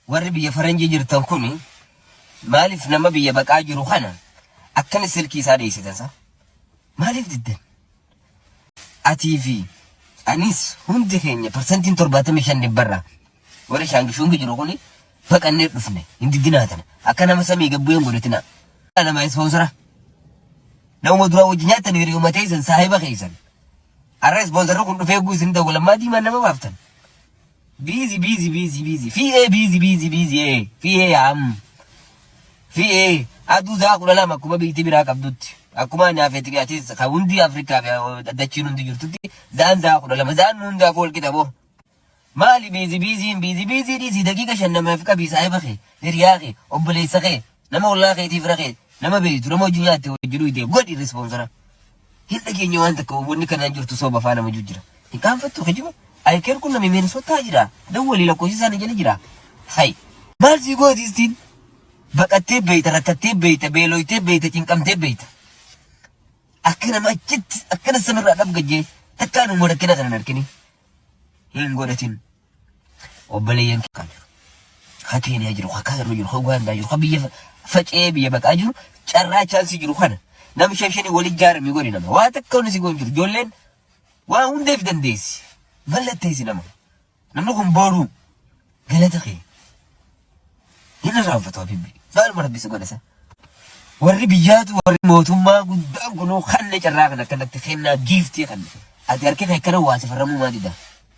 warri biyya faranjii jirtan kun maaliif nama biyya baqaa jiru kana akkana silkii isaa dheessitan isaa maaliif diddan atii fi anis hundi keenya parsantiin torbaatamii shan dhibbarraa warri shaangishuungi jiru kun baqannee dhufne hin diddinaa tana akka nama samii gabbuu hin godhatinaa nama ispoonsara nama duraa wajji nyaatan hiriyuma teessan saahiba keessan arra ispoonsarri kun dhufee guusin ta'u lammaa diimaan nama baaftan Busy busy busy busy fiiyee busy busy busy ee fiiyee yaa mm fiiyee aduu zaa kudha lama akkuma biyyiti biraa qabdutti akkuma anaa feeti fi atis ka hundi Afrikaa fi eh, dachiin hundi jirtutti zaan zaa kudha lama zaan nu hundaaf wal qixa boo maali biizi biiziin biizi biizii dhiisii daqiiqa shan namaaf qabii saahiba kee hiriyaa kee obboleessa kee Nama ollaa keetii fira kee nama beektu nama hojii nyaatte hojii dhuyte godhi respoonsara. Hin dhageenye waan takka wanni kanaan jirtu soba faa nama jijjira. Hin qaanfattu kijiba. Ayikeer kun nami Minisootaa jira. Dawwalii lakkoofsi isaanii jala jira. Hay. Maal sii gooti istiin? Baqattee beeyta, rakkattee beeyta, beelooytee beeyta, cinqamtee beeyta. Akka nama achitti akkana samirraa dhabgajjee takkaa nuuma rakkina kana hin argini. Hin godhatin. obboleeyyan kan jiru ka keeniyaa jiru ka kaayiroo jiru ka ugaandaa jiru ka biyya fa- faca'ee biyya baqaa jiru carraa chaansii jiru kana nam shan shanii wal ijaarame godhi nama waa takka wanni si goon jiru ijoolleen waa hundeef dandeessi mallatteessi nama namni kun booruu galata kee Hin irraanfatu Habiibi. Maaluma rabbi si godha san. Warri biyyaatu warri mootummaa guddaan kunuu kanne carraa kan akkanatti kennaa giiftii kanne. Ati harki kee akkana waa safarramuu maa dida.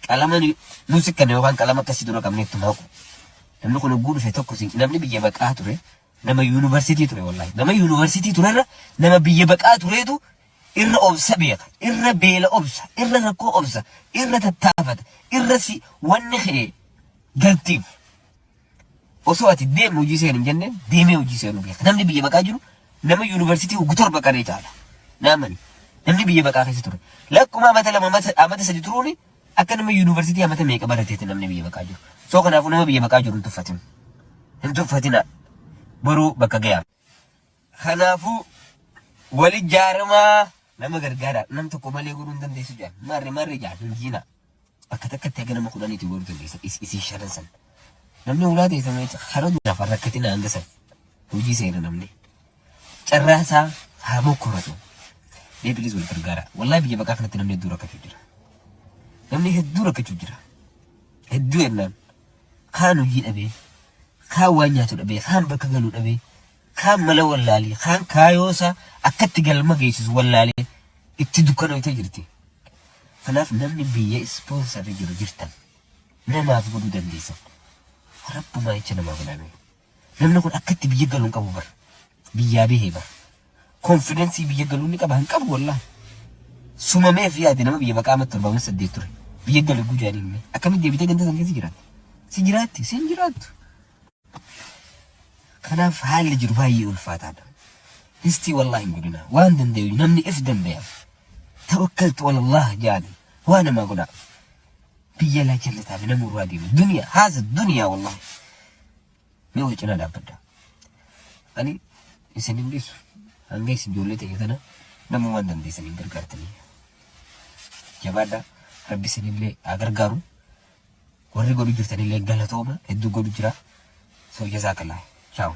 Qalama nu- nu sikkanne yookaan qalama akkasii dura qabne itti maaqu. Namni kun hogguu dhufe tokko si namni biyya baqaa ture nama yuunivarsiitii ture wallaahi. Nama yuunivarsiitii turerra nama biyya baqaa tureetu irra obsa beeka, irra beela obsa, irra rakkoo obsa, irra tattaafata, irra si wanni kee galtiif. Osoo ati deemi hojii seeni hin jenneen deemee hojii seenu beeka. Namni biyya baqaa jiru nama yuunivarsiitii hoggu torba qaree caala. Naamani namni biyya baqaa keessa ture. Lakkuma amata lama amata amata sadi turuuni akka nama yuunivarsiitii amata meeqa barateeti namni biyya baqaa jiru. Soo kanaafuu nama biyya baqaa jiru hin tuffatin. Hin tuffatinaa. Boruu bakka gayaa. Kanaafuu, wal ijaaramaa nama gargaaraa. Nam tokko malee godhuu hin dandeessu jedhan. Marre marre jedhan hin jiinaa. Bakka takkatti haga nama kudhaniitii godhuu dandeessan is- isin shanan san. Namni ulaa teessan jecha hara duraaf hin rakkatina hanga san. Hojii seena namni. Carraa isaa haa mokkoratu. Mee bilis wal gargaaraa. Wallahi biyya baqaa kanatti namni hedduu rakkachuu jira. Namni hedduu rakkachuu jira. Hedduu jennaan. kaan hojii dhabee, kaan waan nyaatu dhabee, kaan bakka galu dhabee, kaan mala wallaalee, kaan kaayoosaa akkatti galma geessisu wallaalee itti dukkanoytee jirti. Kanaaf namni biyya ispoonsarri jiru jirtan namaaf godhuu dandeessan. Rabbumaa jecha namaaf laamee. Namni kun akkatti biyya galu hin qabu bar. Biyyaa behe bar. Konfidensii biyya galuu ni qaba hin qabu wallahi. Sumameef yaadi nama biyya baqaa amma torba amma saddeet ture. Biyya gale guu jaaniin mee. Akkamitti deebitee ganda san keessa jiraatta? Si jiraatti si hin jiraattu. Kanaaf haalli jiru baay'ee ulfaataadha. Histii wallahi hin godhina. Waan danda'u namni if danda'a. Tawakkaltu walallah jaani. Waa namaa godhaa. biyya alaa jallataa fi nama urraa deemu duniyaa haasa duniyaa wallahi mee wal cinaa dhaabbadha ani isin hin dhiisu hanga isin ijoollee ta'e kana nama waan dandeessan hin gargaartanii jabaadha rabbi isinillee haa gargaaru warri godhu jirtanillee galatooma hedduu godhu jira soo jazaa kalaa chaawu